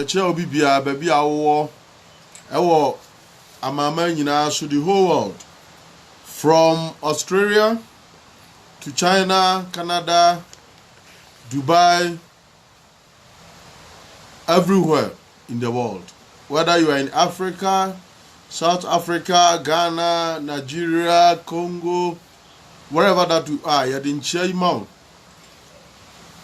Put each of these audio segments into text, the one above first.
Ɛkyerɛ obi biara, baabi a wowɔ, ɛwɔ amanaman nyinaa so, the whole world, from Australia to China, Canada, Dubai, Everywhere in the world whether you are in Africa, South Africa, Ghana, Nigeria, Congo, wherever that you are, yɛde nkyia yi ma wo.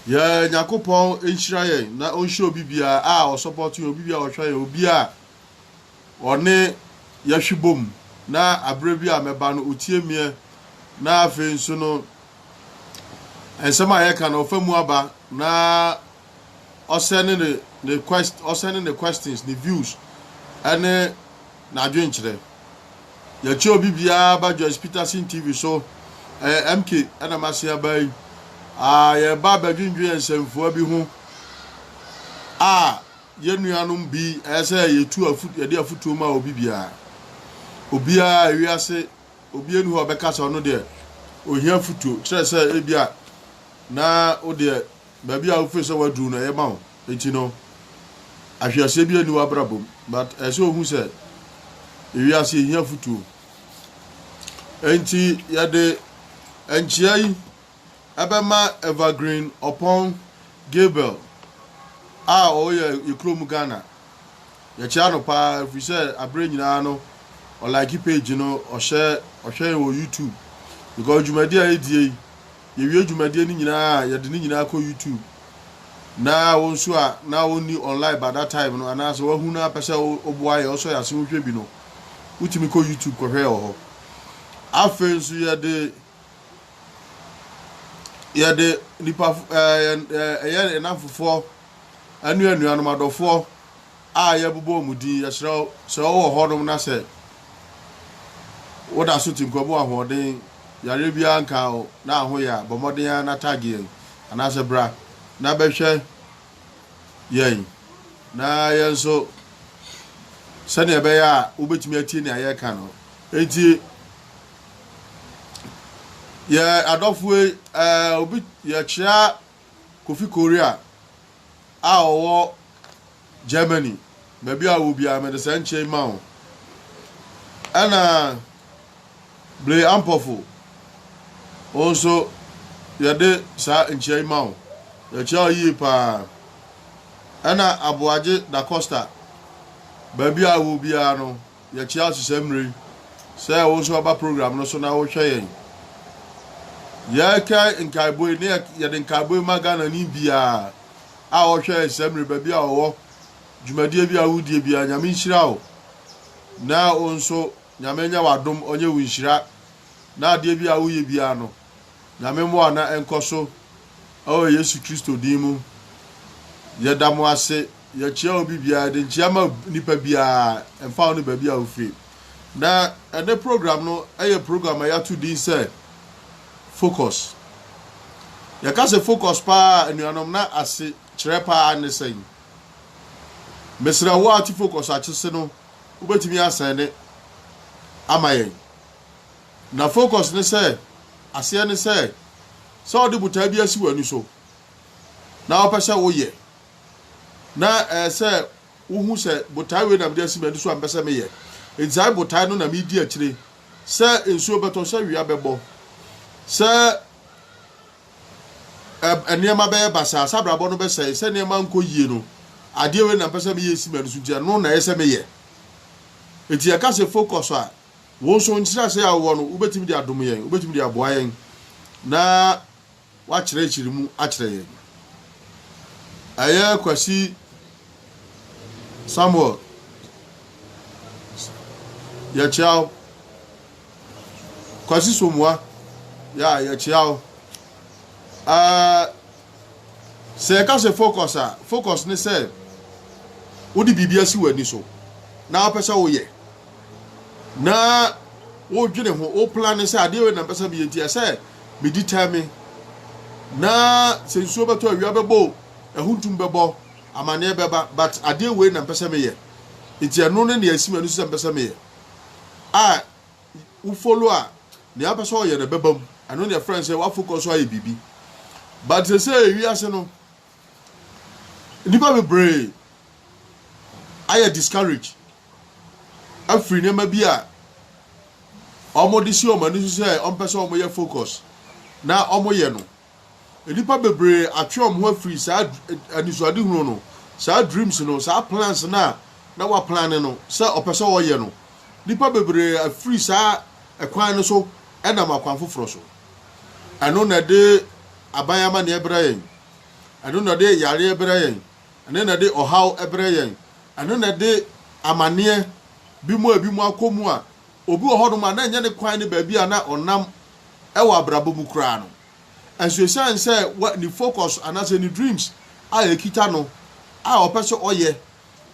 Yɛ Nyakopɔn nhyira yɛn na ɔnhyira obi biara a ɔsɔpɔto yɛn, obi biara a ɔhwɛ yɛn, obi a ɔne yɛhwe bom na aberɛ bi a mɛba no ɔtie meɛ na afei nso no nsɛm a yɛka no ɔfa mu aba na ɔsɛ ne ne ne quest ɔsɛ ne ne questions ne views ɛne n'adwenkyerɛ yɛkyɛ obi biara ba Joyce Peterson TV so ɛyɛ MK ɛna mase aba yi a yɛba abɛdwendwen nsɛmfua bi ho a Yɛn nuanom bi, ɛyɛ sɛ yetu afu, yɛde afutuo ma obi biara. Obiara, ewiase, obiara ni hɔ a ɔbɛka sɛ ɔno deɛ ohia afutuo, kyerɛ sɛ ebi a na wo deɛ baabi a wofiri sɛ waduru no ɛyɛ ma wo, enti no ahweaseɛ bi ani w'abrabɔ mu. But ɛyɛ sɛ ohu sɛ ewiase yɛhia afutuo. Enti yɛde nkyea yi ɛbɛma Evergreen Ɔpɔn Gabriel a ɔyɛ yɛ kurom Ghana. Yɛkyia no paa ɛfiri sɛ aberɛ nyinaa no ɔlike page no ɔhyɛ ɔhwɛ yɛn wɔ YouTube because dwumadie a yɛdie yi yɛwie dwumadie no nyinaa a yɛde ne nyinaa kɔ YouTube na wo nso a na wonni online by that time no anaasɛ wahu no apɛ sɛ woboa yɛ ɔsɔ yɛ ase wohwɛ bi no wotumi kɔ YouTube kɔhwɛ yɛ wɔ hɔ afei nso yɛde yɛde nnipa fo ɛɛ yɛn ɛɛ ɛyɛ yɛn nnamfofoɔ ɛne anuanom adɔfoɔ a yɛbobɔ wɔn din yɛsrɛ wo sɛ wowɔ hɔnom na sɛ woda so te nkwa mu ahoɔden yareɛ biara nka wo na ahoyɛ a bɔ mmɔden ara na tag yɛn anaasɛ bra na bɛhwɛ yɛn na yɛn nso sɛdeɛ ɛbɛyɛ a wobɛtumi atie nea yɛreka no enti Yɛ adɔfoɔ yi, eh, obi yɛkyea Kofi Korea a ɔwɔ Germany. Baabi a ɔwɔ biara mede saa nkyɛn yi ma wo. Ɛna Bere Ampɔfo, wo nso yɛde saa nkyɛn yi ma wo. Yɛkyea wo yie paa. Ɛna Aboagye Da Costa, baabi a ɔwɔ biara no, Yɛte ase saa mmerɛ yi sɛ wo nso aba program no so na wohwɛ yɛn. Yɛrekae nkaebɔ yi, ne yɛde nkaebɔ yi ma Ghanani biara a ɔhwɛ yɛn saa mmerɛ, baabi a ɔwɔ, dwumadie bi a wodie biara, Nyame nhyira wo, na wo nso Nyame nyɛ w'adom ɔnyɛ wo nhyira, na adeɛ bi a woyɛ biara no, Nyame mmoa na ɛnkɔ so, ɛwɔ Yesu Kristo din mu, yɛda mo ase. Yɛkyia obi biara de nkyia ma nipa biara ɛmfa ho ne baabi a ofiri. Na ɛnɛ program no yɛ program a yɛato din sɛ focus. Yɛka sɛ focus paa anuanom na ase kyerɛ paa ne sɛn. Mesrɛ wo a wote focus akyese no wobɛtumi asɛne ama yɛn. Na focus ne sɛ aseɛ ne sɛ sɛ ɔde botaa bi asi w'ani so na wopɛ sɛ woyɛ na ɛyɛ sɛ wohu sɛ botae wei na mede asi m'ani so a mepɛ sɛ meyɛ. Enti saa botae no na medi akyire. Sɛ nsuo bɛtɔ, sɛ wia bɛbɔ, sɛ nneɛma bɛyɛ basaa, sɛ abrabɔ no bɛsɛe, sɛ nneɛma nkɔ yie no, adeɛ wei na mepɛ sɛ meyɛ si m'ani so nti ɛno na ɛyɛ sɛ meyɛ. Enti yɛka sɛ focus a, wo nso nkyerɛaseɛ a wowɔ no, wobɛtumi de adom yɛn, wobɛtumi de aboa yɛn na wɔakyerɛkyerɛ mu akyerɛ yɛn. Ɛyɛ Kwasi Samuel yɛkyea wo. Kwasi Somoa yɛ a yɛkyea wo. Ɛɛ sɛ yɛka sɛ focus a, focus ne sɛ wode biribi asi w'ani so na wopɛ sɛ woyɛ. na wodwene ho wo plan ne sɛ adeɛ wei na mpɛ sɛ meyɛ nti ɛsɛ medi tɛme na sɛ nsuo bɛtɔ awia bɛbɔ ahuntum bɛbɔ amanneɛ bɛba but adeɛ wei na mpɛ sɛ meyɛ nti ɛno ne nea ɛsi m'ani so sɛ mpɛ sɛ meyɛ a wo follow a nea mpɛ sɛ ɔyɛ no bɛba mu ɛno ne ɛfrɛ sɛ woafocus so ayɛ biribi but sɛ sɛ ɛwi ase no nnipa bebree ayɛ discourage afiri nneɛma bi a wɔde si wɔn ani so sɛ wɔmpɛ sɛ wɔyɛ focus na wɔyɛ no. Nnipa bebree atwe wɔn ho afiri saa anisoadehunu no, saa dreams no, saa plans no a na wɔaplane no sɛ ɔpɛ sɛ wɔyɛ no. Nnipa bebree afiri saa ɛkwan no so nam akwan foforɔ so. Ɛno na ɛde aban amanneɛ brɛ yɛn. Ɛno na ɛde yareɛ brɛ yɛn. Ɛno na ɛde ɔhaw brɛ yɛn. Ɛno na ɛde amanneɛ bi mu a ebinom akɔ mu a obi wɔ hɔnom a na ɛnyɛ ne kwan ne baabi a na ɔnam wɔ abrabɔ mu koraa no. Nanso esiane sɛ ne focus anaasɛ ne dreams a ekita no a ɔpɛ sɛ ɔyɛ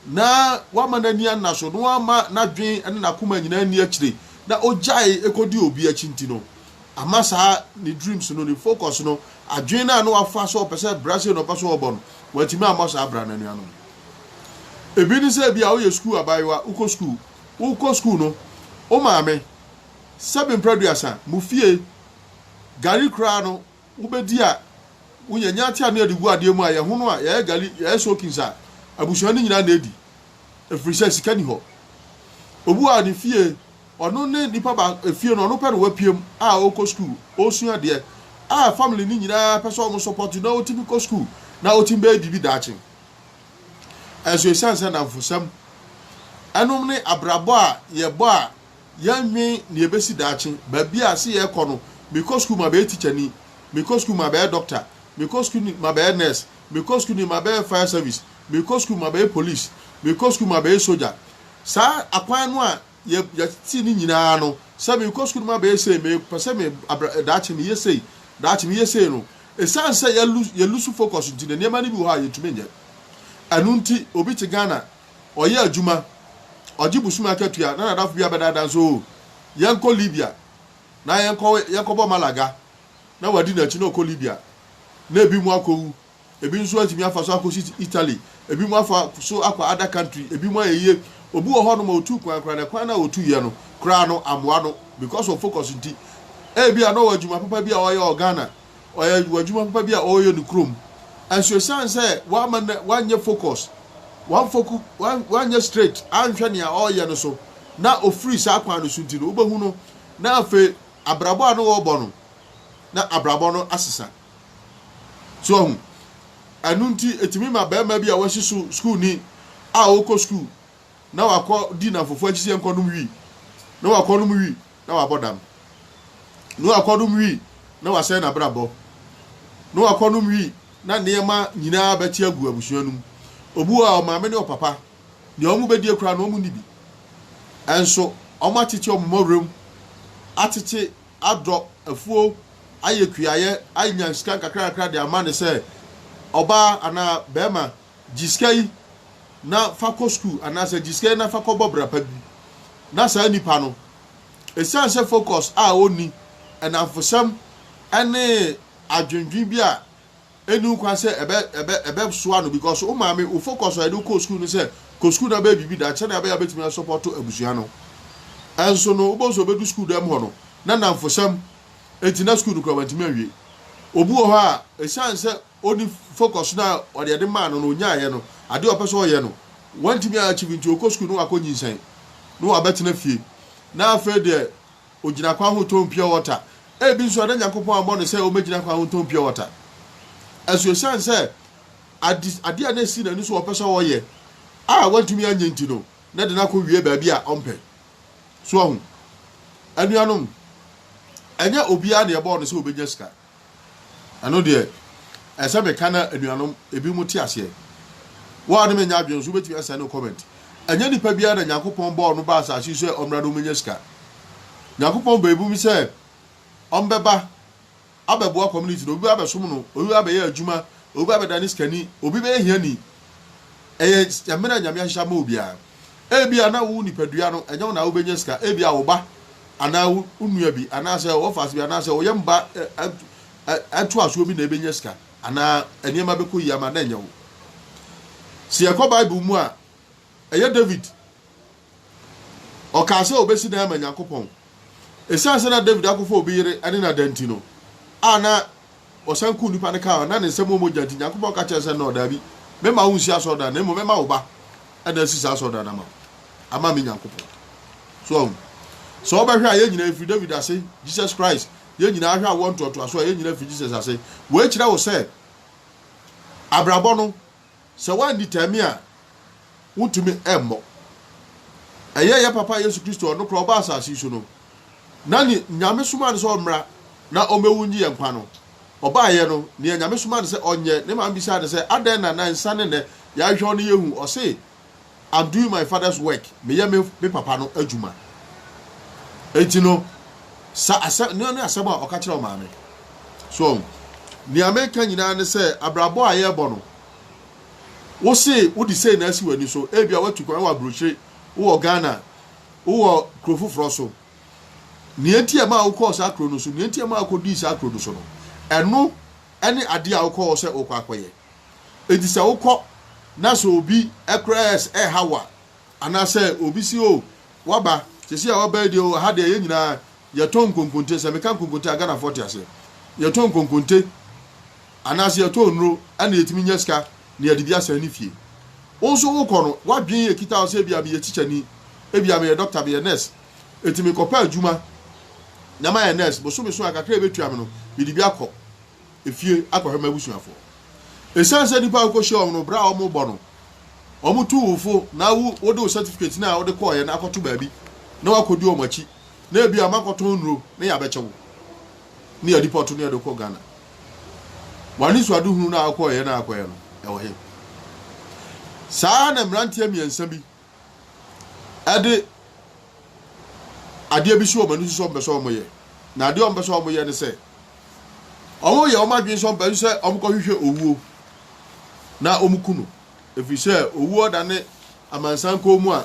na wama n'ani anna so na wama n'adwene ne n'akoma nyinaa anni akyire na ogyae kodi obi akyi nti no, ama saa ne dreams no, ne focus no, adwene no a na wafa sɛ ɔpɛ sɛ bra sei na ɔpɛ sɛ ɔbɔ no, wantumi ammɔ saa bra no, anuanom. Ebi ne sɛ ebia woyɛ sukuu abaayewa, wokɔ sukuu, wokɔ sukuu no, wo maame, sɛbe mprɛduasa, mo fie, gari koraa no, wobɛdi a, wonya nya ate anoa de gu adeɛ mu a, yɛhono a, yɛyɛ gari, yɛyɛ soakings a, abusua no nyinaa na ɛdi, ɛfiri sɛ sika ni hɔ. Obi wɔ ne fie, Ɔno ne nipa baako a fie no ɔno pɛ na wapue mu a ɔkɔ sukuu, ɔresua adeɛ a family no nyinaa pɛ sɛ wɔn support no na ɔtumi kɔ sukuu na ɔtumi bɛyɛ biribi daakye. Ɛnso ɛsiane sɛ nnamfosɛm ɛnom ne abrabɔ a yɛbɔ a yɛnnwen nea ɛbɛsi daakye, baabi a se yɛrekɔ no, mekɔ sukuu mabɛyɛ tikyani, mekɔ sukuu mabɛyɛ dɔkta, mekɔ sukuu ni mabɛyɛ nurse, mekɔ sukuu ni mabɛyɛ fire service, mekɔ sukuu mabɛyɛ police, mekɔ sukuu mabɛyɛ sogya. Saa akwan no a yɛ yɛtete ne nyinaa no sɛ merekɔ sukuu no ma bɛyɛ sei mepɛ sɛ me abra daakye meyɛ sei daakye meyɛ sei no ɛsiane sɛ yɛ lose yɛ lose focus nti na nneɛma no bi wɔ hɔ a yɛtumi nyɛ ɛno nti obi te Ghana ɔyɛ adwuma ɔgye busumi akatua na nadafo bi abɛdaadaa nso o yɛnkɔ Libya na yɛnkɔ yɛnkɔbɔ Malaga na wadi n'akyi na ɔkɔ Libya na ebi mu akɔwu Ebi nso atumi afa so akɔsi Italy. Ebinom afa so akɔ other country. Ebinom ayɛ yie. Obi wɔ hɔnom a ɔtuu kwan koraa na kwan no a ɔtuiɛ no koraa no ammoa no because of focus nti. Ebia na ɔwɔ adwuma papa bi a ɔyɛ wɔ Ghana, ɔyɛ wɔ adwuma papa bi a ɔreyɛ ne kurom. Nso ɛsiane sɛ wamma no wanyɛ focus, wamfoku, wan, wanyɛ straight, anhwɛ nea ɔreyɛ no so na ɔfiri saa kwan no so nti no, wobɛhu no na afei abrabɔ a na ɔrebɔ no, na abrabɔ no asesa. So ahu? Ɛno nti, etumi ma barima bi a wasi so sukuuni a ɔkɔ sukuu na wakɔ di nnamfofo akyi sɛ nkɔnom wi, na wakɔnom wi na wabɔ dam, na wakɔnom wi na wasɛe n'abrabɔ, na wakɔnom wi na nneɛma nyinaa bɛte agu abusua no mu. Obu a ɔmaame ne ɔpapa deɛ wɔn bɛdie koraa no wɔn nni bi. Ɛnso wɔn atete wɔn mmɔwerɛm, atete adɔ afuo, ayɛ kuayɛ, anya sika nkakrankakra de ama no sɛ, Ɔbaa anaa barima, gye sika yi na fa kɔ sukuu anaasɛ gye sika yi na fa kɔbɔ bra pa bi. Na saa nipa no, ɛsiane sɛ focus a ɔnni, nnamfosɛm ne adwendwen bi a ɛnni ho kwan sɛ ɛbɛ ɛbɛ ɛbɛsoa no because wo maame wo focus a yɛde wo kɔɔ sukuu no sɛ kɔ sukuu na bɛyɛ biribi dan sɛnea ɛbɛyɛ a wobɛtumi asɔpɔto abusua no ɛnso no wobɛhu sɛ ɔbɛdu sukuu dɛm hɔ no na nnamfosɛm nti na sukuu no kura wantumi anwie obi wɔ hɔ a ɛsiane sɛ ɔni focus no a ɔde ɛde maa no no ɔnyaayɛ no adeɛ ɔpɛ sɛ ɔyɛ no wantumi a achieve nti ɔkɔ sukuu no wakɔ nyinsɛn no wabɛtena fie na afei deɛ Ogyina kwan ho tɔn pure water. Ebi nso a na Nyankopɔn ammɔ no sɛ ommegyina kwan ho ntɔn pure water. Ɛso esiane sɛ ade ade a na esi n'ani so a ɔpɛ sɛ ɔyɛ a wantumi anyɛ nti no, na ɛde no akɔ wie baabi a ɔmpɛ. So ahu? Anuanom, ɛnyɛ obiara na ɛbɔɔ no sɛ obenya sika. Ɛno deɛ, ɛsɛ sɛ meka na anuanom ebinom te aseɛ. Wo a ne me nyɛ adwene nso, wobɛtumi asɛn no comment. Ɛnyɛ nipa biara na Nyankopɔn bɔɔ no baa asase yi so sɛ ɔmmra na ɔmmɛnya sika. Nyankopɔn bɔɔ ebinom sɛ ɔmbɛba abɛboa community no. Obi bɛba abɛsom no, obi bɛba abɛyɛ adwuma, obi bɛba abɛdane sikani, obi bɛyɛ hiani. Ɛyɛ mmere a Nyame ahyehyɛ ama obiara. Ebia na wo nipadua no, ɛnyɛ wo na wobɛnya sika. Ebia wo ba anaa wo nua bi anaasɛ wɔfaase bi anaasɛ wɔyɛ mba ɛtoasoɔ bi na ɛbɛnya sika anaa nneɛma bɛkɔ yie ama na ɛnyɛ wo. Sɛ yɛkɔ Bible mu a, ɛyɛ David. Ɔkaa sɛ obesi dan ama Nyankopɔn. Esiane sɛ na David akɔfa obi yere ne no ada nti no, a na ɔsan kum nnipa no kaa ho, na ne nsam wɔ mogya nti, Nyankopɔn ka kyerɛɛ no sɛ, Nnɔɔ, daabi, memma wonsi asɔredan no, na mmom mɛma wo ba na asi saa asɔredan no ama wo, ama me Nyankopɔn. So ahu? Sɛ wobɛhwɛ a, yɛn nyinaa efiri David ase, Jesus Christ, yɛn nyinaa hwɛ awoɔ ntoatoasoɔ a, yɛn nyinaa firi Jesus ase. Wei kyerɛ wo sɛ abrabɔ no, Sɛ woandi tami a, wontumi mmɔ. Ɛyɛɛ yɛ Papa Yesu Kristo a ɔno koraa ɔbaa asase yi so no, na ne Nyame somaa no sɛ ɔmmra na ɔmmɛwu ngye yɛn nkwa no, ɔbaeɛ no, nea Nyame somaa no sɛ ɔnyɛ, ne maame bisaa no sɛ, Adɛn na na nsa ne nnɛ yɛahwehwɛ wo no yɛnhu? Ɔsee. I'm doing my father's work, meyɛ me me papa no adwuma. Enti no, sa asɛm, no ne asɛm a ɔka kyerɛ wo maame. So, nea meka nyinaa ne sɛ, abrabɔ a yɛrebɔ no, wo se wode sei na asi w'ani so, ebia watu kwan wɔ aburokyire, wowɔ Ghana, wowɔ kuro foforɔ so. Nea enti a ɛmaa wokɔɔ saa kuro no so, nea enti a ɛmaa wokɔdii saa kuro no so no, ɛno ne adeɛ a wokɔɔ sɛ wokɔ akɔyɛ. Enti sɛ wokɔ na sɛ obi kora ɛs ɛreha wo a, anaasɛ obi se o waba, sɛsi a waba yi deɛ o ha deɛ yɛn nyinaa yɛtɔn nkonkonte, sɛ meka nkonkonte a Ghanafoɔ te aseɛ, yɛtɔn nkonkonte anaasɛ yɛtɔn nnuro ɛna yɛtumi nya sika na yɛde bi asɛn ne fie. Wo nso wokɔ no, w'adwene ɛkita wo sɛ ebia meyɛ kyikyani, ebia meyɛ dɔkta, meyɛ nurse, enti mekɔpɛ adwuma na mayɛ nurse, bosome so a kakra a ɛbɛtua me no mede bi akɔ. fie akɔhwɛ m'abusuafo. Esiane sɛ nnipa a wukohyia wɔn no, bere a wɔrebɔ no, wɔtu wo fo na wo wode wo certificate no a wode kɔɔeɛ no akɔto baabi na woakɔdi wɔn akyi na ebia moakɔtɔn nnuro na yɛabɛkyɛ wo na yɛadipɔto no yɛde kɔ Ghana. W'anisoadehunu no a wokɔɔeɛ na akɔyɛ no, ɛwɔ he? Saa ara na mmeranteɛ mmiɛnsa bi de adeɛ bi si wɔn ani so sɛ wɔpɛ sɛ wɔyɛ. Na adeɛ a wɔpɛ sɛ wɔyɛ ne sɛ, wɔyɛ wɔn adwene sɛ wɔpɛ sɛ wɔkɔhwehwɛ owuo na wɔku no. Ɛfiri sɛ owuo da ne amansan kɔn mu a,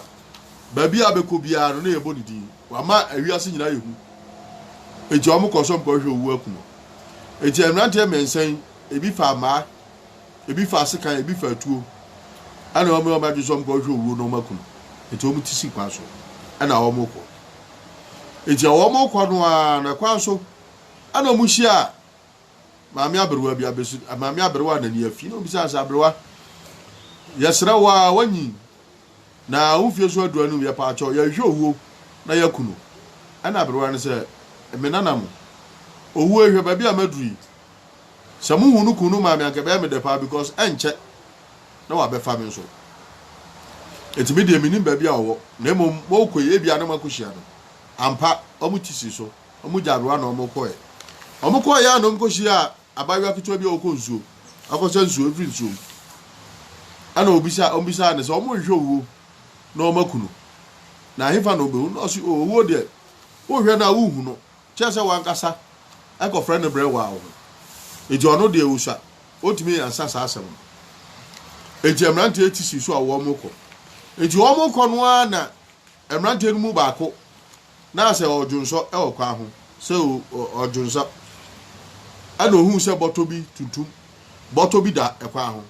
baabi a bɛkɔ biara no na yɛbɔ ne din. Wama ewiase nyinaa yɛ hu. Enti wɔkɔ sɛ wɔkɔhwehwɛ owuo aku no. Enti mmeranteɛ mmiɛnsa yi, ebi faa mmaa. Ebi faa sekan, ebi faa tuo, ɛna wɔn a wɔadwene sɛ wɔkɔhwehwɛ owuo no wɔaku no. Enti wɔn ti si kwan so, ɛna wɔkɔ. Enti a wɔkɔ no ara na kwan so, ɛna wɔhyia maame aberewa bi, abesi maame aberewa a n'ani afi, na wɔbisa sɛ, aberewa, yɛsrɛ wo a wɔnyi, na wo mfie so adu anum, yɛpa akyɛw, yɛhwehwɛ owuo na yɛaku no. Ɛna aberewa no sɛ, me nana mo, owuo ehwɛ baabi a maduru yi. Sɛ mo hu no kun no maa me anka ɛbɛyɛ me dɛ paa because ɛnkyɛ na wabɛfa me nso. Enti me deɛ mennim baabi a ɔwɔ na mmom mokɔ yi ebia na moakɔhyia no. Ampa, wɔn ti sii so. Wɔn gyaa aberewa na wɔkɔeɛ. Wɔkɔeɛ ara na wɔkɔhyiaa abaayewa ketewa bi a ɔkɔ nsuo akɔsa nsuo afiri nsuo mu. Ɛna ɔbisa, wɔbisaa no sɛ wɔnhwɛ owuo na wɔaku no. Na ɛhefa na ɔbɛhu no? Na ɔse, o owuo deɛ wohwɛ no a wonhu no. Kyerɛ sɛ w'ankasa kɔfrɛ no brɛ woaa wo ho. Enti ɔno deɛ ɔsua. Ɔntumi ansa saa asɛm no. Enti mmeranteɛ tisi so a wɔrekɔ. Enti wɔrekɔ no ara na mmeranteɛ no mu baako na sɛ ɔredwonsɔ wɔ kwan ho, sɛ ɔredwonsɔ. Ɛna ɔhuu sɛ bɔtɔ bi tuntum, bɔtɔ bi da kwan ho.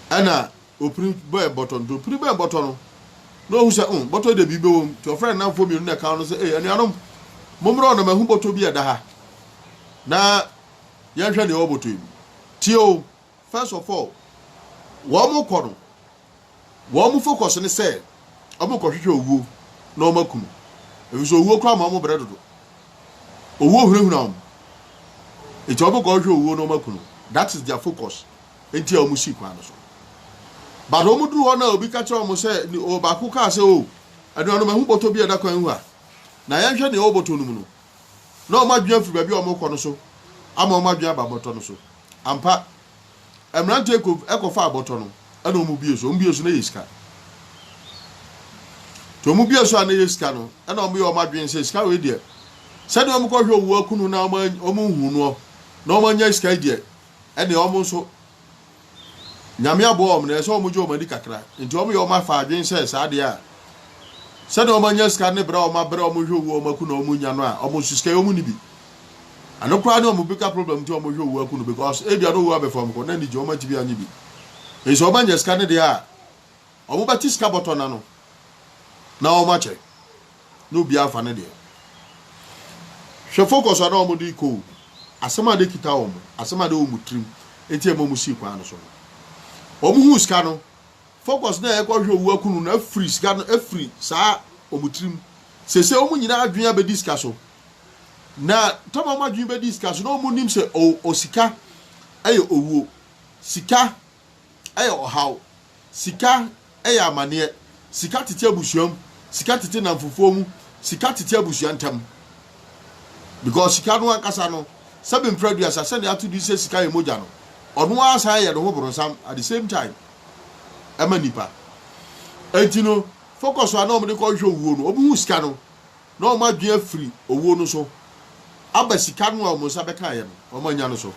Ɛna Opiri bɛɛ bɔtɔ no. Nti opiri bɛɛ bɔtɔ no na ohu sɛ, mm, bɔtɔ yi deɛ biribi bɛwɔ mu. Nti ɔfrɛɛ ne nnamfoɔ mmienu na ɛkaa no sɛ, ei, anuanom, mommra hɔ na mahu bɔtɔ bi a ɛda ha, na yɛnhwɛ deɛ ɛwɔ bɔtɔ yi mu. Tie o, first of all, wɔkɔ no, wɔn focus ne sɛ wɔkɔhwehwɛ owuo na wɔaku no, efisɛ owuo koraa ma wɔn brɛ dodo. Owuo hunahuna wɔn, nti wɔkɔhwehwɛ owuo na wɔaku no. That is their focus. nti a wɔsii kwan no so. But wɔduru hɔ no a obi ka kyerɛ wɔn sɛ, ɔbaako kaa sɛ, o, anuanom, mahu bɔtɔ bi a ɛda kwan ho ha. Na yɛnhwɛ nea ɛwɔ bɔtɔ no mu no. Na wɔn adwene afiri baabi a wɔrekɔ no so ama wɔn adwene aba bɔtɔ no so. Ampa, mmeranteɛ kɔ kɔfaa bɔtɔ no, ɛna wɔbue so. Wɔbue so na ɛyɛ sika. Nti wɔbue so a na ɛyɛ sika no, ɛna wɔyɛ wɔn adwene sɛ sika wei deɛ, sɛdeɛ wɔkɔhwɛ owuo akunu na wɔnhu noɔ na wɔanya sika yi deɛ, ɛne wɔn nso Nyame aboa wɔn na ɛsɛ wɔn gye wɔn ani kakra nti wɔn yɛ wɔn afa adwene sɛ saa deɛ a sɛdeɛ wɔn anya sika ne berɛ a wɔn abrɛ wɔn hwɛ owuo wɔn aku na wɔn nya no a wɔn nso sika yi wɔn ni bi ɛno koraa ne wɔn bigger problem nti wɔn hwɛ owuo aku no because ebia na owuo abɛfa wɔn kɔ na anigye wɔn antumi anye bi nso wɔn anya sika ne deɛ a Wɔbɛte sika bɔtɔ no ano na wɔakyɛ na obiara afa ne deɛ. Hwɛ focus a na wɔde rekɔ o, asɛm a na ɛkita wɔn, asɛm a na ɛwɔ wɔn tirim, enti ɛma wɔsii kwan no so no. Wɔhuu sika no, focus na ɛrekɔhwɛ owu akunu no afiri sika no afiri saa wɔn tirim. Seesei wɔn nyinaa adwene abɛdi sika so. Na tam a wɔn adwene bɛdi sika so na wɔnim sɛ o, o sika yɛ owuo. Sika yɛ ɔhaw. Sika yɛ amaneɛ. Sika tete abusua mu. Sika tete nnamfofoɔ mu. Sika tete abusua ntam. Because sika no ankasa no, sɛbe mprɛduasa sɛdeɛ ato din sɛ sika yɛ mogya no, ɔno ara san yɛ ne ho boronsam at the same time ɛma nipa. Enti no, focus a na wɔde kɔhwehwɛ owuo no, wɔhu sika no na wɔn adwene afiri owuo no so aba sika no a wɔn nsa bɛkaeɛ no, wɔannya no so.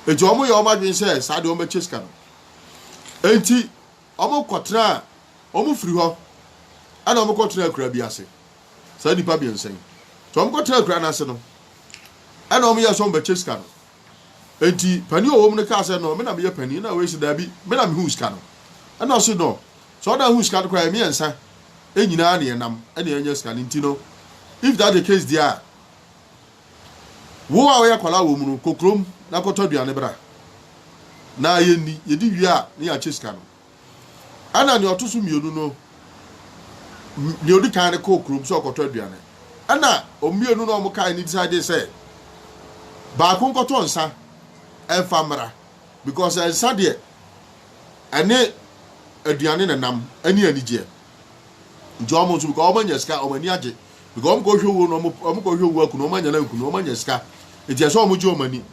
Enti wɔyɛɛ wɔn adwene sɛ saa deɛ wɔbɛkyɛ sika no. Enti wɔkɔtenaa, wɔfiri hɔ ɛna wɔkɔtenaa akuraa bi ase, saa nnipa mmiɛnsa yi. Nti wɔkɔtenaa akuraa no ase no, ɛna wɔyɛɛ sɛ wɔbɛkyɛ sika no. Enti panin a ɔwɔ mu no kaa sɛ, No, me na meyɛ panin. Ɛnna wei se, Dabi, me na mehuu sika no. Ɛnna ɔse, No, sɛ wo na wohuu sika no koraa a, yɛn mmiɛnsa nyinaa na yɛnam na yɛanya sika no. Enti no, if that's the case deɛ a, wo a woyɛ akwadaa wɔ mu no, kɔ kurom na kɔtɔ aduane bra, na yɛnni. Yɛdi wie a, na yɛakyɛ sika no. Ɛna nea ɔto so mmienu no, nea odi kan no kɔɔ kurom sɛ ɔkɔtɔ aduane. Ɛna wɔn mmienu no a wɔkae no decide sɛ baako nkɔtɔ nsa mfa mmra because nsa deɛ ɛne aduane na nam ɛne anigyeɛ. Nti wɔn nso because wɔn anya sika wɔn ani agye because wɔn kɔhwɛ owuo no wɔn kɔhwɛ owuo akunu wɔn anya no ankunu wɔn anya sika nti ɛsɛ wɔn gye wɔn ani.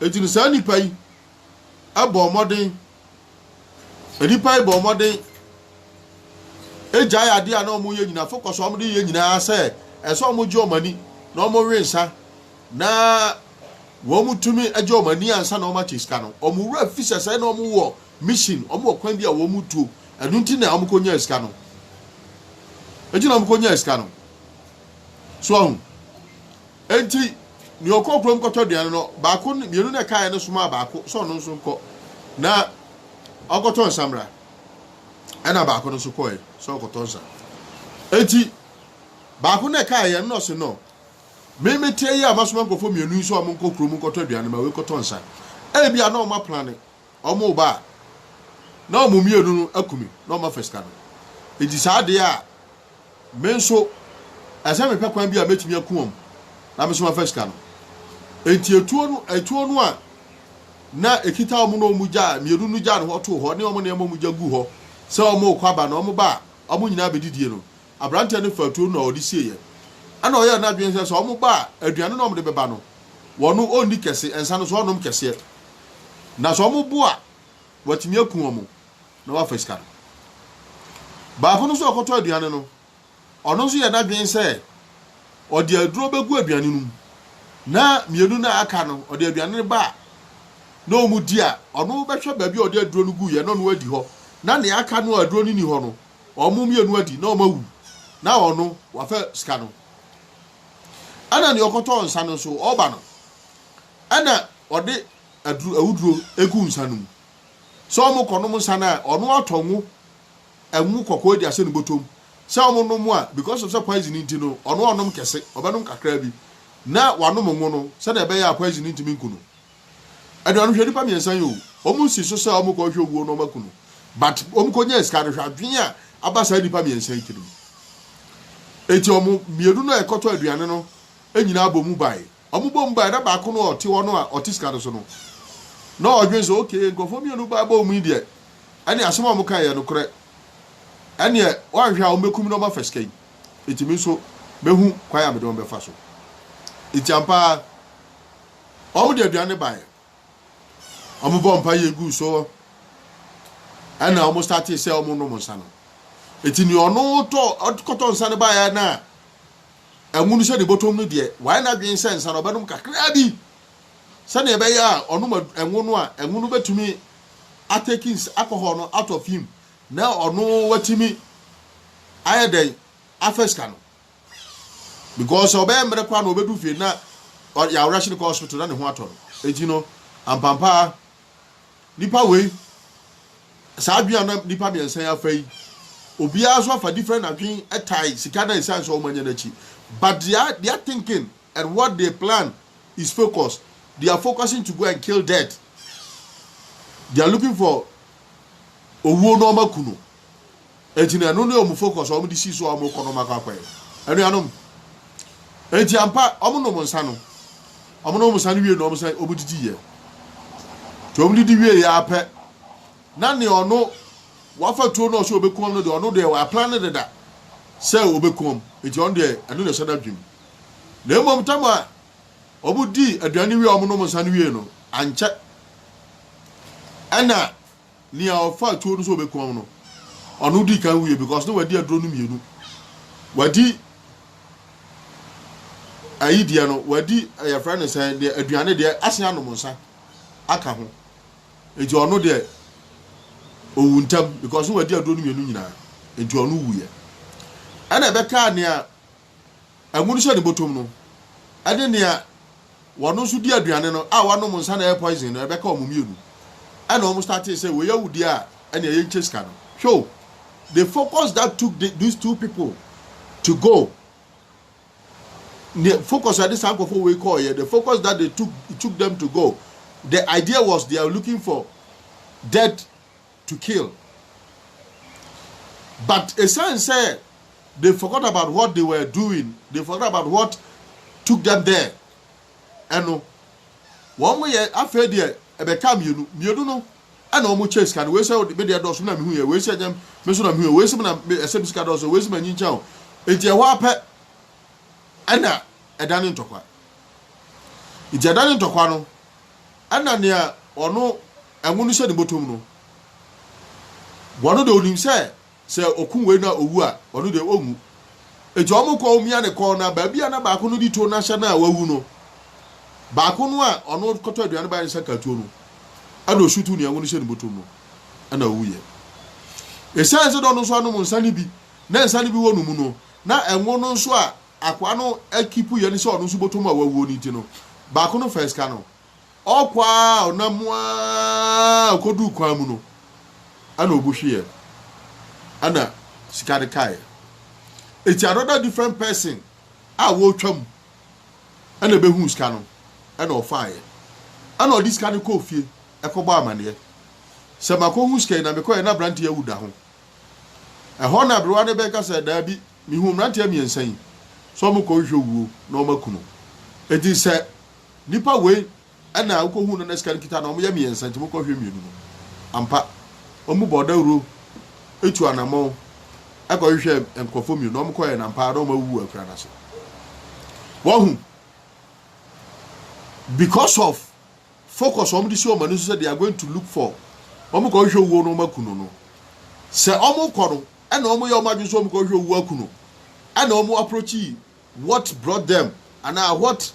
Nti no saa nipa yi ɛbɔ mmɔden. Nnipa yi bɔɔ mmɔden gyae ade a na wɔyɛ nyinaa. Afei kɔ so wɔde yɛ nyinaa sɛ ɛsɛ wɔgye wɔn ani na wɔwe nsa na wɔtumi gye wɔn ani ansa na wɔakyɛ sika no. Wɔn wura fi sɛ sɛ na wɔwɔ mission, wɔwɔ kwan bi a wɔtuo. Ɛno nti na wɔkɔnyaa sika no. Ɛnti na wɔkɔnyaa sika no. So ahu. Enti nea ɔkɔɔ kurom kɔtɔ aduan no, baako ne mmienu na ɛkaeɛ no somaa baako sɛ ɔno nso nkɔ na ɔnkɔtɔ nsa mmra. Ɛna baako no nso kɔe sɛ ɔkɔtɔ nsa. Enti baako na ɛkaeɛ no na ɔse no, me meteɛ yi a masoma nkurɔfoɔ mmienu yi sɛ wɔnkɔ kurom nkɔtɔ aduan no, ma wei kɔtɔ nsa. Ebia na wɔaplane Wɔreba a, na wɔn mmienu no aku me na wɔafa sika no. Enti saa de a, me nso, ɛsɛ sɛ mehwɛ kwan bi a mɛtumi aku wɔn na me nso mafa sika no. Enti atuo no, atuo no a na ɛkita wɔn na wɔn gya, mmienu no gyaa no hɔ too hɔ, ne wɔn nneɛma a wɔn gya guu hɔ sɛ wɔrekɔ aba no, wɔba a, wɔn nyinaa bɛdidie no, aberanteɛ no faa tuo no na ɔde sieeɛ. Ɛna ɔyɛɛ n'adwene sɛ sɛ wɔba a, aduane no a wɔde bɛba no, wɔno ɔnni kɛse, nsa no nso ɔnnom kɛseɛ. Na sɛ wɔbo a, watumi aku wɔn na wafa sika no. Baako no nso a ɔkɔtɔ aduane no, ɔno nso yɛɛ n'adwene sɛ ɔde aduro bɛgu aduane no mu, na mmienu no a aka no, ɔde aduane no ba a, na wɔdi a, ɔno bɛhwɛ baabi a ɔde aduro no guiɛ na ɔno adi hɔ, na nea aka no a aduro no nni hɔ no, wɔn mmienu adi na wɔawu na ɔno wafa sika no. Ɛna nea ɔkɔtɔɔ nsa no nso ɔba no, ɛna ɔde aduro awuduro egu nsa no mu. Sɛ wɔn kɔnom nsa no a ɔno atɔ ngo, ɛngo kɔkɔɔ de ahyɛ ne bɔtɔm. Sɛ wɔn nom a because of sɛ poison nti no ɔno ɔnom kɛse, ɔbɛnom kakra bi na wanom ngo no sɛdeɛ ɛbɛyɛ a poison ntumi nku no. Anuanom hwɛ nipa miensa yi oo ɔmo nsi so sɛ ɔmo kɔ hwɛ owuo na ɔmo aku no but ɔmo kɔ nyaa sika no hwɛ adwen a aba saa nipa miensa yi tirim eti ɔmo mienu no a ɛkɔtɔ aduane no nyinaa bɔ mu bae ɔmo bɔ mu bae na baako no a ɔte hɔ no a ɔte sika no so no na ɔdwen sɛ ok nkurɔfoɔ mienu bae bɔ mu yi deɛ ɛne asɛm a ɔmo kae yɛ nokorɛ ɛneɛ wanhwɛ a ɔmo bɛkum na ɔmo afa sika yi eti me nso mɛhu kwan a mede wɔn bɛfa so eti ampa ara Wɔde aduan no baeɛ. Wɔbɔɔ mpaeɛ guu so ɛna wɔn startee sɛ wɔn nom nsa no. Eti nea ɔno tɔ ɔkɔtɔ nsa no baeɛ na ɛnwunu sɛ ne bɔtɔm no deɛ wayɛ n'adwene sɛ nsa no ɔbɛnom kakraa bi sɛdeɛ ɛbɛyɛ a ɔnom ɛnwo no a ɛnwo no bɛtumi ateki alcohol no out of him na ɔno watumi ayɛ dɛn afɛ sika no. because ɔbɛyɛ mmerɛ koraa na ɔbɛdu fie na yɛawerɛhye no kɔ hospital na ne ho atɔ no enti no ampampaa nipa wei saa adwene a na nipa mmiɛnsa yi afa yi obiara nso afa different adwene ɛtae sika na ɛsiane sɛ wɔmanya no akyi but they are, they are thinking and what they plan is focused they are focusing to go and kill death they are looking for owuo na ɔma ku no Enti na ɛno ne wɔn focus a wɔde sii so a wɔrekɔ no wɔn akɔ akɔyɛ. Anuanom, enti ampa, wɔnom nsa no, wɔnom nsa no wie na wɔsan wɔdidi yɛ. Nti wɔdidi wie yɛ ara pɛ, na nea ɔno wafa tuo na ɔsɛ ɔbɛkum wɔn no deɛ, ɔno deɛ waplan no deda sɛ ɔbɛkum wɔn. Enti ɔno deɛ, ɛno na ɛhyɛ n'adwenem. Na mmom tam a wɔdii aduane wie a wɔnom nsa no wie no, ankyɛ na Nea ɔfaa tuo no sɛ ɔbɛkum no no, ɔno dii kan wuiɛ because na wadi aduro no mmienu. Wadi ayi deɛ no, wadi yɛfrɛ no sɛn deɛ aduane deɛ asen anom nsa aka ho. Nti ɔno deɛ ɔwu ntam because na wadi aduro no mmienu nyinaa. Nti ɔno wuiɛ. Ɛna ɛbɛkaa nea amu no hyɛ ne bɔtɔm no de nea wɔn nso di aduane no a wɔanom nsa na ɛyɛ poison no ɛbɛka wɔn mmienu ɛna wɔn startee sɛ wɔyɛ awudi a ɛna ɛyɛ nkyɛ sika no hwɛ o the focus that took the, these two people to go the focus ɛde saa nkɔfo wei kɔɔ yɛ the focus that they took it took them to go the idea was they are looking for dead to kill but esiane sɛ they forgot about what they were doing they forgot about what took them there ɛno wɔn yɛ afei deɛ ɛbɛka mmienu mmienu no ɛna wɔn kyɛ sika no wei sɛ me deɛ dɔɔso na mehu yɛ wei sɛ ɛnyɛ me so na mehu yɛ wei sɛ me na ɛsɛ me sika dɔɔso wei sɛ m'anyi nkyɛn o eti ɛhɔ apɛ ɛna ɛda ne ntɔkwa eti ɛda ne ntɔkwa no Ɛna nea ɔno ngo no hyɛ ne bɔtɔm no, ɔno deɛ ɔnim sɛ sɛ ɔku wei na ɔwu a, ɔno deɛ ɔnwu. Enti wɔn kɔ wɔn mia ne kɔn na baabi a na baako no di to no ahyɛ no a wawu no, baako no a ɔno kɔtɔ aduane baeɛ nsa katuo no, ɛna ɔsutu nea ngo no hyɛ ne bɔtɔm no, ɛna ɔwuiɛ. Ɛsiane sɛ na ɔno nso anom nsa no bi na nsa no bi wɔ no mu no, na ngo no nso a akoa no akipu yɛ ne sɛ ɔno nso bɔtɔ mu a wawuo no nti no, baako no faa sika no. Ɔkɔ a ɔnam mu a ɔkɔduu kwan mu no, ɛna ɔbu hweeɛ, ɛna sika no kaeɛ. Eti another different person a wɔretwa mu ɛna ɛbɛhuu sika no, ɛna ɔfaeɛ. Ɛna ɔde sika no kɔɔ fie ɛkɔbɔ amaneɛ. Sɛ makɔhu sika yi na mekɔɛ na aberanteɛ awu da ho. Ɛhɔ na aberewa no bɛka sɛ daabi, Mihuu mmeranteɛ mmiɛnsa yi sɛ wɔrekɔhwehwɛ owuo na wɔaku no. Enti sɛ nnipa wei na wokɔhuu no na sika no kita no a, wɔyɛ mmiɛnsa nti monkɔhwehwɛ mmienu no. Ampa, wɔn mu bɔɔ dawuro tuu anammɔn kɔhwehwɛɛ nkurɔfoɔ mmienu na wɔkɔeɛ, na ampa ara na wɔawuwu wɔ akuraa no ase. Wahu? Because of focus a wɔde si wɔn ani so sɛ they are going to look for, wɔrekɔhwehwɛ owuo na wɔaku no no, sɛ wɔrekɔ no, ɛna wɔyɛ wɔn adwene sɛ wɔn kɔhwɛ owu aku no ɛna wɔn approachi what brought them anaa what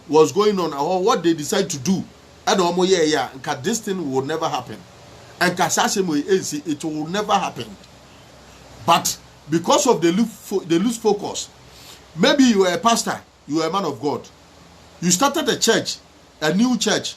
was going on or what they decide to do ɛna wɔn yɛ ɛyɛ a nka this thing will never happen nka saa asɛm yi ɛnsi it will never happen but because of the lose, the lose focus maybe you are a pastor you are a man of God you started a church a new church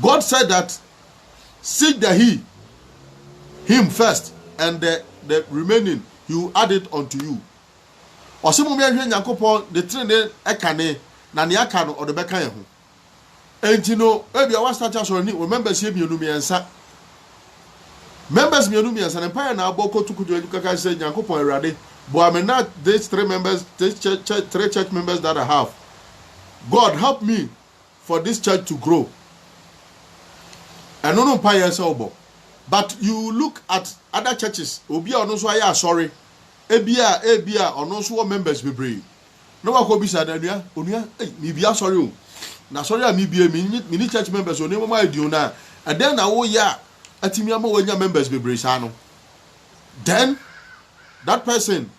God said that seek the he, him first and the, the remaining he will add it unto you. Ɔse mo mehwɛ Nyankopɔn ne trenee ɛkane na nea aka no ɔde bɛka yɛn ho. Enti no ebi a wasate asɔre ne wɔ members yɛ mmienu mmiɛnsa. Members mmienu mmiɛnsa ne mpaeɛ na abɔ kotu kotu anim kaka sɛ Nyankopɔn Awurade boa me na these three members these church, church, three church members that I have. God help me for this church to grow ɛno no mpa yɛ sɛ wobɔ but you look at other churches obi a ɔno nso ayɛ asɔre ebi a ebi a ɔno nso wɔ members bebree na wakɔ bisa na nua onua ei mibi asɔre o na asɔre a mibie mi mi ni church members o nneɛma mu ayɛ den o na ɛdɛn na woyɛ a atumi ama wanya members bebree saa no then that person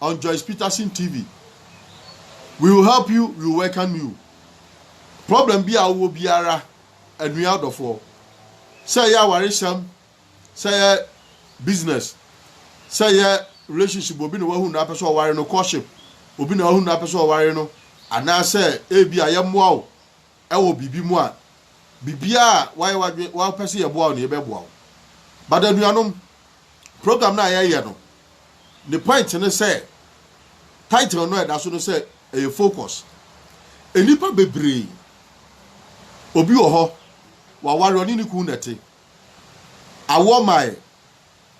on Joyce Peterson TV. We will help you, we will welcome you. Problem bi a wowɔ biara, anua ɔdɔfoɔ, sɛ ɛyɛ awaresɛm, sɛ ɛyɛ business, sɛ ɛyɛ relationship, obi na wahunu na apɛ sɛ ɔware no, courtship, obi na wahunu na apɛ sɛ ɔware no, anaasɛ ebi a yɛmmoa wo wɔ biribi mu a, biribiara a wayɛ w'adwene, wapɛ sɛ yɛboa wo no, yɛbɛboa wo. But anuanom, program no a yɛyɛ no, ne point ne sɛ, title no a ɛda so no sɛ, ɛyɛ focus. Nnipa bebree, obi wɔ hɔ, waware, ɔne ne kunu na ɛte. Awoɔ mmaeɛ.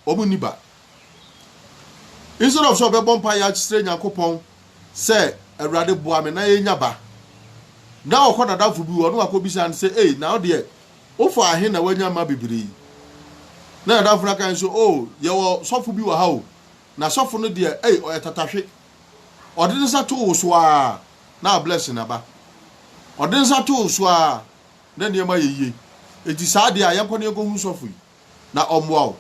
wɔn nni ba. Instead of sɛ ɔbɛbɔ mpaeɛ akyerɛ Nyankopɔn sɛ Awurade boa me na yɛnya ba. Na ɔkɔ nadamfo bi hɔ na wakɔbisa no sɛ, ei, na wo deɛ, wofaa he na wanya mma bebree yi? Na nadamfo no aka no sɛ, oh, yɛwɔ sɔfo bi wɔ ha o, na sɔfo no deɛ, ei, ɔyɛ tatahwe. Ɔde ne nsa too wo so ara na abless na ba. Ɔde ne nsa too wo so ara na nneɛma yɛ yie. Enti saa deɛ a, yɛnkɔ na yɛnkɔhu sɔfo yi. na ɔmmoa wo.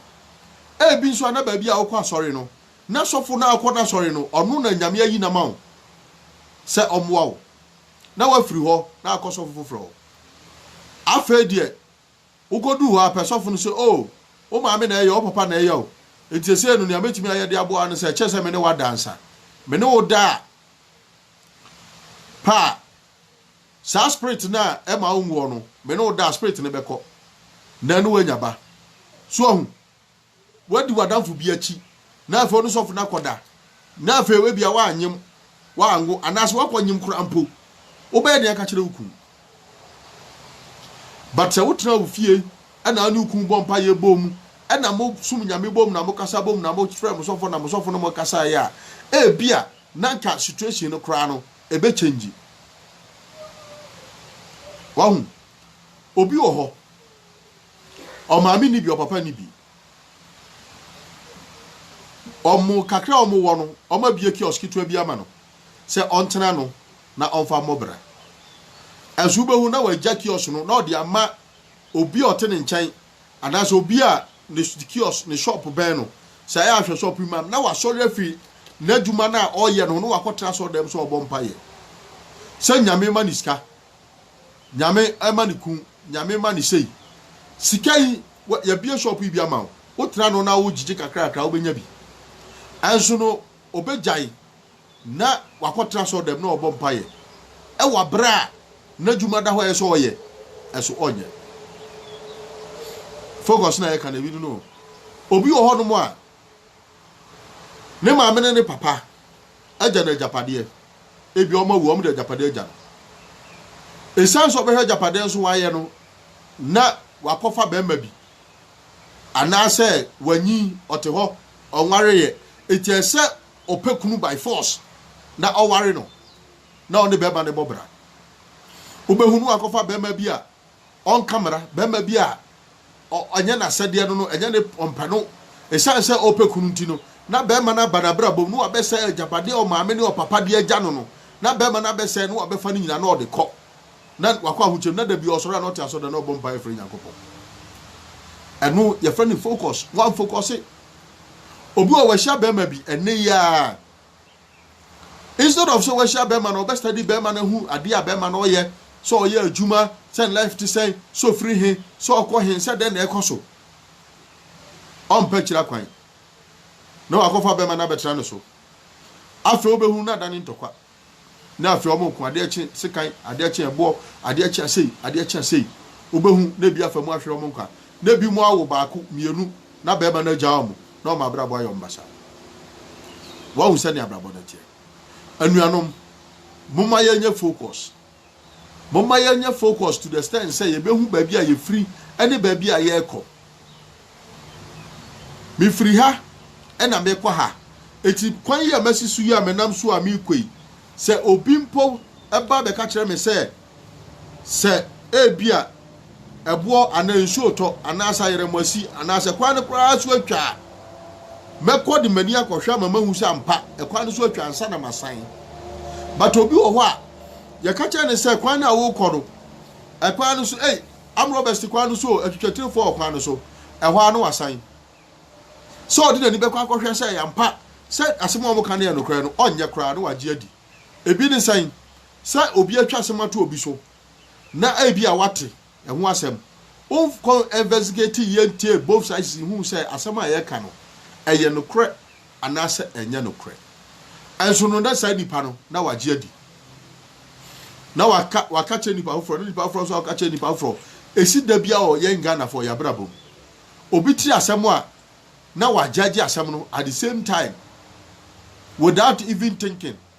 Ebi nso a na baabi a wokɔ asɔre no, na sɔfo no a wokɔ n'asɔre no, ɔno na Nyame ayi no ama wo sɛ ɔmmoa wo, na woafiri hɔ na akɔ sɔfo foforɔ hɔ. Afei deɛ, wokɔduu hɔ a, pɛ sɔfo no sɛ, Oo, wo maame na ɛyɛ o, wo papa na ɛyɛ o, enti seesei no nea mɛtumi ayɛ de aboa wo ne sɛ, ɛkyɛre sɛ me ne wo ada ansa. Me ne wo da a, pɛ a. Saa spirit no a ɛma wo nwuɔ no, me ne wo da a, spirit no bɛkɔ na ɛne wo anya ba. So ahu? Woadi w'adamfo bi akyi, na afei ɔne sɔfo no akɔda, na afei ebia woanyem, woanwo, anaasɛ woakɔnyem koraa mpo. Wobɛyɛ dɛn aka akyerɛ wo kunu? But sɛ wotena wo fie na wo ne wo kunu bɔ mpaeɛ bom na mosom Nyame bom na mokasa bom na mofrɛ mo sɔfo na mo sɔfo ne mo kasaeɛ a, ebia na nka situation no koraa no ɛbɛ change wahu obi wɔ hɔ ɔmaame nni bi ɔpapa nni bi ɔmo kakra ɔmo wɔ no ɔmo abie kiosk ketewa bi ama no sɛ ɔntena no na ɔmfa mmɔ bra ɛnso wobɛhu na wagya kiosk no na ɔde ama obi a ɔte ne nkyɛn Anaasɛ obi a ne kiosk, ne shop bɛn no. Sɛ ɛyɛ a hwɛ shop yi ma me na wasɔre afi n'adwuma no a ɔreyɛ no ho na wakɔtena asɔredan mu sɛ ɔrebɔ mpaeɛ sɛ Nyame mma no sika, Nyame mma no kunu, Nyame mma no sei. Sika yi, yɛabue shop yi bi ama wo, wotena no na wogyegye kakrakra a wobɛnya bi. Ɛnso no, ɔbɛgyae Na wakɔtena asɔrdan mu na ɔrebɔ mpaeɛ wɔ aberɛ a n'adwuma da hɔ a ɛyɛ sɛ ɔyɛ ɛso ɔnyɛ. Focus na yɛka no ebi no no. Obi wɔ hɔnom a ne maame ne ne papa agya no agyapadeɛ. Ebi wɔn awu wɔn de agyapadeɛ agya no. Esiane sɛ ɔbɛhwɛ agyapadeɛ nso wayɛ no na wakɔfa barima bi anaasɛ wanyin ɔte hɔ ɔnwareeɛ eti ɛsɛ ɔpɛ kunu by force na ɔware no na ɔne bɛrima no bɔ bra. Wobɛhu no wakɔfa bɛrima bi a ɔnka mmara, bɛrima bi a ɛnyɛ n'asɛdeɛ no no, ɛnyɛ ne ɔmpɛ no. Ɛsiane sɛ ɔpɛ kunu nti no, na bɛrima no aba n'abrabɔ mu na wabɛsɛe agyapadeɛ a ɔmaame ne ɔpapa de agya no no. Na bɛrima no abɛsɛe na wabɛfa no nyinaa na ɔde kɔ. Na wakɔ ahokyere mu, na da bi ɔsɔre a na ɔte asɔre da na ɔbɔ mpaeɛ frɛ Nyankopɔn. Ɛno yɛfrɛ no focus, wanfokɔse. Obi wɔ wahyia bɛrima bi ɛnɛ yi ara. Instead of sɛ wahyia bɛrima no ɔbɛ study bɛrima no ahu adeɛ a bɛrima no ɔyɛ, sɛ ɔyɛ adwuma, sɛ ne life te sɛn, sɛ ɔfiri he, sɛ ɔkɔ he, sɛ dɛn na ɛkɔ so. Ɔmpɛ akyiri akwan. Na wakɔfa bɛrima no abɛtena ne so. Afei wobɛhunu no ada ne ntɔkwa. na afei wɔn nko adeɛ kye sekan adeɛ kye ɛboɔ adeɛ kye asei adeɛ kye asei wobɛhu na ebi afa mu ahwere wɔn nkwa na ebi mu awo baako mmienu na bɛrima no agya wɔn na wɔn abrabɔ ayɛ wɔn basaa wɔahu sɛnea abrabɔ no teɛ anuanom moma yɛnyɛ focus. Momma yɛnyɛ focused to the extent sɛ yɛbɛhu baabi a yɛfiri ne baabi a yɛrekɔ. Mefiri ha na merekɔ ha, enti kwan yi a masi so yi a menam so a merekɔ yi, sɛ obi mpo ba bɛka kyerɛ me sɛ, sɛ ebia, ɛboɔ anaa nsuo retɔ anaasɛ ayerɛmo asi anaasɛ kwan no koraa so atwa a, mɛkɔ de m'ani akɔhwɛ ama mahu sɛ ampa ɛkwan no so atwa ansa na masan. But obi wɔ hɔ a, yɛka kyerɛ no sɛ kwan no a worekɔ no, ɛkwan no so, ei, amrɔbɛs te kwan no so o, atwitwatirifoɔ wɔ kwan no so, ɛhɔ ara na wasan. Sɛ ɔde n'ani bɛkɔ akɔhwɛ sɛ ɛyɛ ampa sɛ asɛm a wɔka no yɛ nokorɛ no, ɔnyɛ koraa na wagye adi. Ebi ne sɛn? Sɛ obi atwa asɛm ato obi so na ebia woate ɛho asɛm. Wonkɔ investigate yie ntie both sides nhuu sɛ asɛm a yɛreka no ɛyɛ nokorɛ anaasɛ ɛnyɛ nokorɛ. Nso no na saa nipa no na wagye adi. Na waka waka kyerɛ nipa foforɔ na nipa foforɔ nso aka kyerɛ nipa foforɔ. Ɛsi da biara wɔ yɛn Ghanafoɔ yɛn abrabɔ mu. Obi te asɛm a na wagyagye asɛm no at the same time without even thinking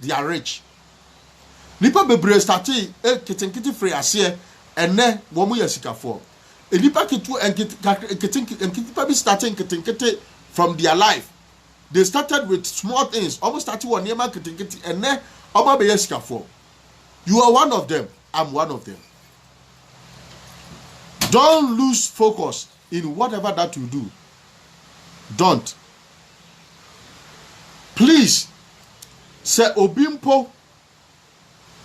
they are rich nipa bebree startee nketenkete firi aseɛ ɛnɛ wɔn yɛ sikafoɔ nipa ketewa nkete nketepa bi startee nketenkete from their life they started with small things wɔn startee wɔ nneɛma nketenkete ɛnɛ wɔn abɛyɛ sikafoɔ you are one of them i'm one of them don't lose focus in whatever that you do don't please sɛ obi mpo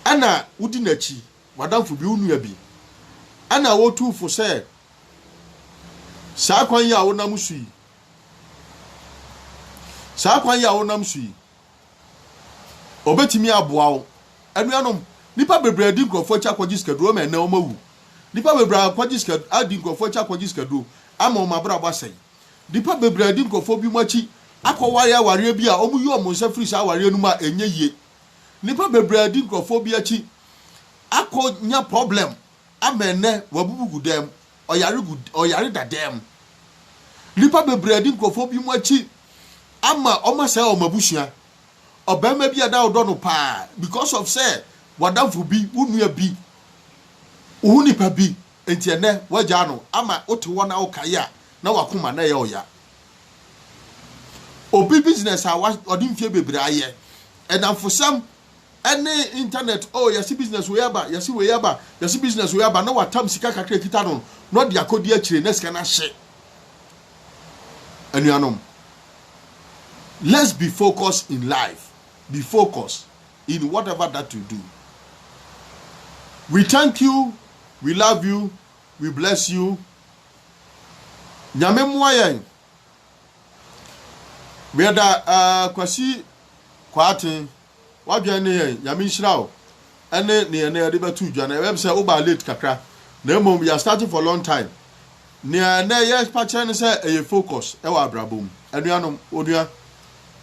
ɛna wodi n'akyi w'adamfo bi wo nua bi ɛna wotu fo sɛ saa kwan yi a wonam so yi saa kwan yi a wonam so yi Obetumi aboa wo. Anuanom, nnipa bebree adi nkurɔfo akyi akɔgye sikaduro ama ɛnnɛ wɔawu. Nnipa bebree akɔgye sika, adi nkurɔfo akyi akɔgye sikaduro ama wɔn abrabɔ asɛe. Nnipa bebree adi nkurɔfo binom akyi akɔware awareɛ bi a wɔyi wɔn nsa firi saa awareɛ no mu a ɛnyɛ yie. Nnipa bebree adi nkurɔfo bi akyi akɔnya problem ama ɛnnɛ wɔabubu gu dan mu. ɔyare gu ɔyare da dan mu. Nnipa bebree adi nkurɔfoɔ binom akyi ama wɔn asɛe wɔn abusua. Ɔbarima bi a na ɔdɔ no paa because of sɛ w'adamfo bi, wo nua bi, wo ho nipa bi nti ɛnɛ wagyaa no ama wote hɔ na wokae a na wakoma na ɛyɛ ɔya. Obi business a ɔde mfie bebree ayɛ, ɛnamfosɛm, ɛne internet oh yɛse business wei aba yɛse wei aba yɛse business wei aba na watam sika kakra ekita no na ɔde akɔdi akyire na sika no ahye anuanom let's be focused in life be focused in whatever that you do we thank you we love you we bless you nyame mmoa yɛn Meda eh, Kwasi Kwarteng, w'adwen ne yɛn, Nyame nhyira wo, ɛne neɛ nɛ yɛde bɛto dwa no, ɛbɛm sɛ wobaa late kakra, na mmom we are starting for long time, neɛ nɛ yɛpa kyerɛ ne sɛ ɛyɛ focus ɛwɔ abrabɔ mu, anuanom, onua,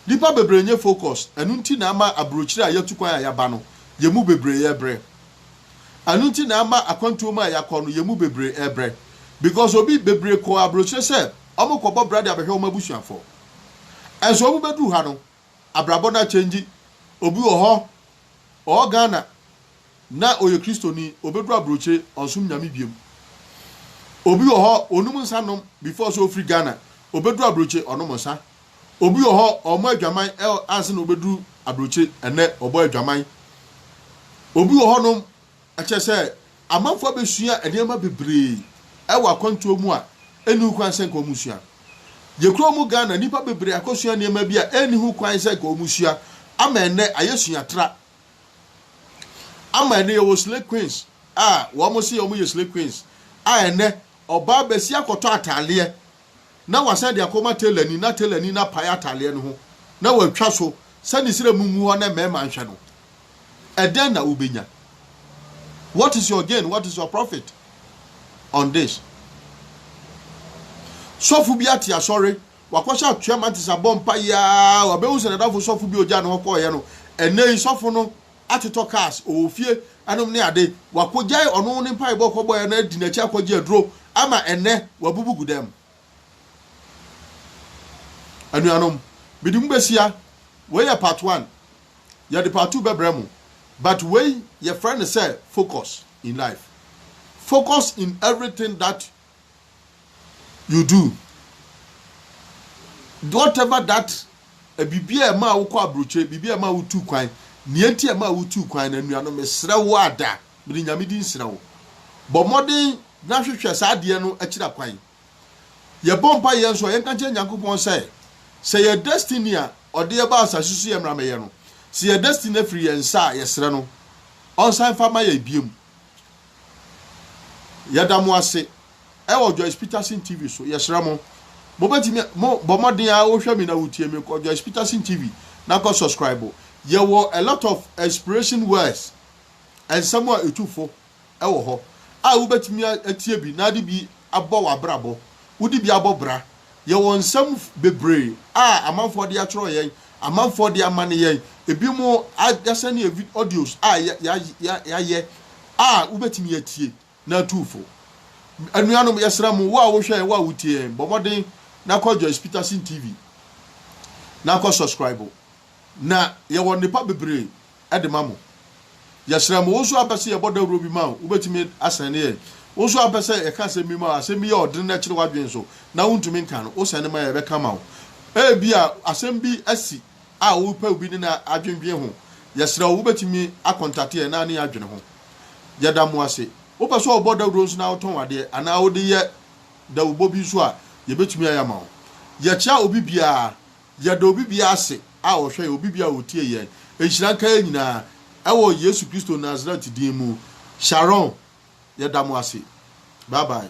nipa bebree nyɛ focus, ɛno nti na ama abrokyire a yɛtu kwan a yɛaba no, yɛn mu bebree yɛbrɛ, Ɛno nti na ama akwantuo mu a yɛakɔ no yɛn mu bebree rebrɛ because obi bebree kɔɔ aburokyire sɛ wɔrekɔbɔ bra de abɛhwɛ wɔn abusuafoɔ. Nso wɔbɛduru ha no abrabɔ no akyɛngyi. Obi wɔ hɔ ɔwɔ Ghana na ɔyɛ Kristoni, ɔbɛduru aburokyire ɔnsom Nyame biom. Obi wɔ hɔ ɔnum nsa nom before sɛ ɔfiri Ghana, ɔbɛduru aburokyire ɔnom nsa. Obi wɔ hɔ ɔmmɔ adwaman ɛ ansa na ɔbɛduru abrokye ɛnnɛ ɔbɔ adwaman. Obi wɔ hɔnom ɛkyɛ sɛ amanfoɔ abɛsua nneɛma bebree ɛwɔ akwantuo mu a ɛnni ho kwan sɛ nka wɔn sua. Yɛkura mu Ghana nnipa bebree akɔsua nneɛma bi a ɛnni ho kwan sɛ nka wɔn sua ama ɛnnɛ ayɛ suatra ama ɛnnɛ yɛwɔ slay queens a wɔn se wɔn yɛ slay queens a ɛnnɛ ɔbaa bɛsi akɔtɔ ataadeɛ na wasan de akɔma telani na telani no apae atadeɛ no ho na watwa so sɛ ne srɛ mu ngu hɔ na mmarima nhwɛ no, ɛdɛn na wobɛnya? What is your gain? What is your profit on this? Sɔfo bi ate asɔre, wakɔhyɛ atoa mantis abɔ mpaeɛ a, wabɛhu sɛ nadafo sɔfo bi ogya ne hɔ kɔeɛ no, ɛnɛ yi sɔfo no atotɔ cars, ɔwɔ fie nom ne ade, wakɔgyae ɔno ne mpaebɔ a ɔkɔbɔeɛ no adi n'akyi akɔgye aduro ama ɛnnɛ wabubu gu dɛm. Anuanom, mede mo bɛhyia, wei yɛ part one, yɛde part two bɛbrɛ mo, but wei yɛfrɛ no sɛ focus in life, focus in everything that you do whatever that biribi a ɛma wokɔ aburokyire biribi a ɛma wotu kwan nea enti a ɛma wotu kwan na nnuano mesrɛ wo ada mede nyame di nsrɛ wo bɔ mmɔden na hwehwɛ saa adeɛ no akyira kwan yɛbɔ mpa yɛn nso a yɛnka nkyerɛ nyankopɔn sɛ sɛ yɛ destiny a ɔde yɛba asase so yɛ mmeramɛyɛ no sɛ yɛ destiny afiri yɛn nsa a yɛsrɛ no ɔnsan fa ma yɛ biem Yɛda mo ase ɛwɔ Joyce Peterson TV so. Yɛsrɛ mo, mobɛtumi mo bɔ mmɔden a wohwɛ me na wotie me kɔ Joyce Peterson TV na kɔ subscribe. Yɛwɔ a lot of inspiration words, nsɛm a ɛtu fo ɛwɔ hɔ a wobɛtumi atie bi na ade bi abɔ w'abrabɔ, wode bi abɔ bra. Yɛwɔ nsɛm bebree a amanfoɔ de atwerɛ yɛn, amanfoɔ de amane yɛn, ebinom asɛne yɛn vid audios a yɛayɛ a wobɛtumi atie na atu fo. Anuanom, yɛsrɛ mo, wo a wohwɛ yɛn, wo a wotie yɛn, bɔ mmɔden na kɔ Joyce Peterson TV na kɔ subscribe. Na yɛwɔ nnepa bebree de ma mo. Yɛsrɛ mo, wo nso ampɛ sɛ yɛbɔ dawuro bi ma wo, wobɛtumi asɛnde yɛn? Wo nso ampɛ sɛ yɛka asɛm bi ma wo, asɛm bi yɛ ɔdene na ɛkyere w'adwene so na wontumi nka no, wosɛnde ma yɛn a, yɛbɛka ma wo. Ebia asɛm bi asi a wopɛ obi ne no adwendwene ho. Yɛsrɛ wo, wobɛtumi akɔntate yɛn na ne yɛn adwene ho. Yɛda mo ase. Wopɛ sɛ wobɔ dawuro nso na wotɔn adeɛ anaa wode yɛ dawurubɔ bi nso a, yɛbɛtumi ayɛ ama wo. Yɛkyea obi biara Yɛda obi biara ase a ɔhwɛ yɛn, obi biara a ɔtie yɛn. Nhyira nka yɛn nyinaa, ɛwɔ Yesu Kristo Nasaret din mu. Sharon, yɛda mo ase. Bye bye.